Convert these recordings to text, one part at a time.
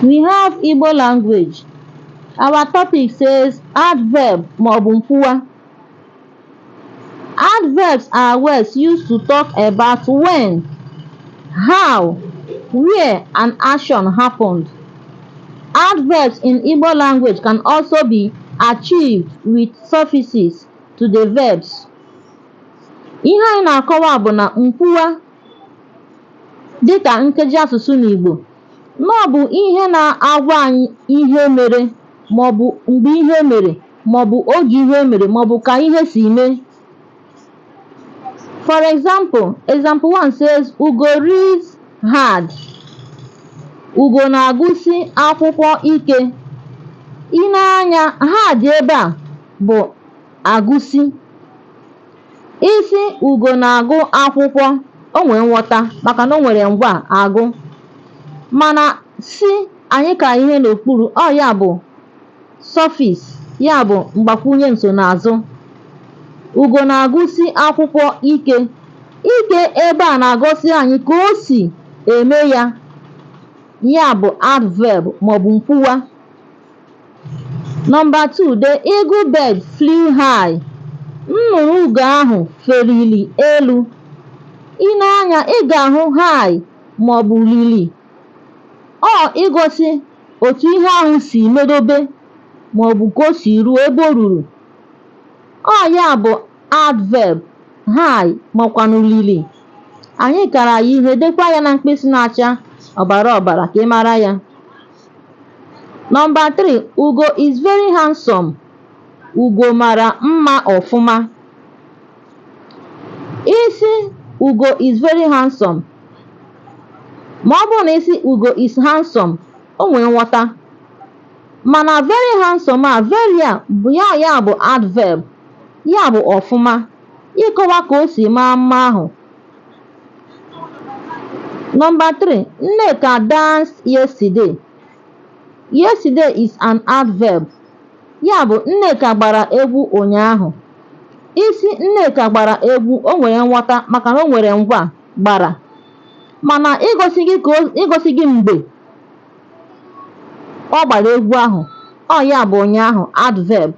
We have Igbo language. Our topic says adverb maọbụ nkwuwa. Adverbs are words used to talk about when, how, where an action happened. Adverbs in Igbo language can also be achieved with suffixes to the verbs. Ihe anyị na-akọwa bụ na nkwuwa dịkà nkeji asụ̀sụ n'ìgbò na ọ bụ̀ ihe na-agwa anyị ihe mere màọ̀bụ̀ m̀gbè ihe mèrè màọ̀bụ̀ ogè ihe mèrè màọ̀bụ̀ kà ihe sì mee for example example one says ùgò reads hard ùgò nà-àgụsị akwụkwọ ike i nee anya hard ebe à bụ̀ àgụsị Ị sị Ugo na-agụ akwụkwọ, o nwere nghọta maka na o nwere ngwa agụ. Mana si anyị ka ihe n'okpuru, ọ ya bụ suffix, ya bụ mgbakwunye nsonaazụ. Ugo na-agụsi akwụkwọ ike. Ike ebe a na-agọsi anyị ka o si eme ya, ya bụ adverb maọbụ nkwuwa. Number two, the eagle bird flew high. Nnụnụ ugo ahụ feliri elu. I nee anya, ị ga-ahụ high maọbụ lili. Ọ igosi otu ihe ahụ si medobe maọbụ ka o si ruo ebe o ruru. Ọ ya bụ adverb high makwanụ lili. Anyị kara ya ihe, dekwa ya na mkpịsị na-acha ọbara ọbara ka ị mara ya. Nọmba 3 Ugo is very handsome. Ugo mara mma ọfụma. Ị sị Ugo is very handsome. Ma ọ bụrụ na ị sị Ugo is handsome, o nwere nghọta. Mana very handsome a, very a bụ ya ya bụ adverb, ya bụ ọfụma, ịkọwa ka o si maa mma ahụ. Number three, Nneka danced yesterday. Yesterday is an adverb. Ya bụ Nneka gbara egwu ụnyaahụ. Ị sị Nneka gbara egwu o nwere nghọta maka na o nwere ngwa gbara. Mana igosi gị mgbe ọ gbara egwu ahụ, ọ ya bụ ụnyaahụ adverb.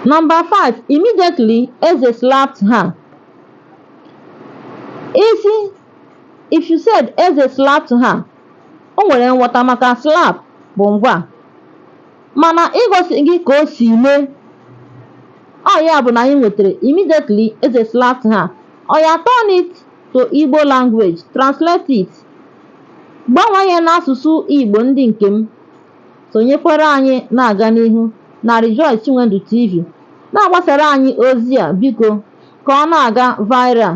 Number five, immediately Eze slapped her. Ị sị if you said Eze slapped her, o nwere nghọta maka slap bụ ngwa. Mana igosi gị ka o si mee, ọ ya bụ na anyị nwetara immediately Eze slapped her. Oya turn it to Igbo language, translate it. Gbanwee ya n'asụsụ Igbo ndị nke m. Sonyekwara anyị na-aga n'ihu na Rejoice Chinwendu TV. Na-agbasara anyị ozi a biko ka ọ na-aga viral.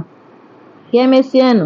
Ka emesienụ.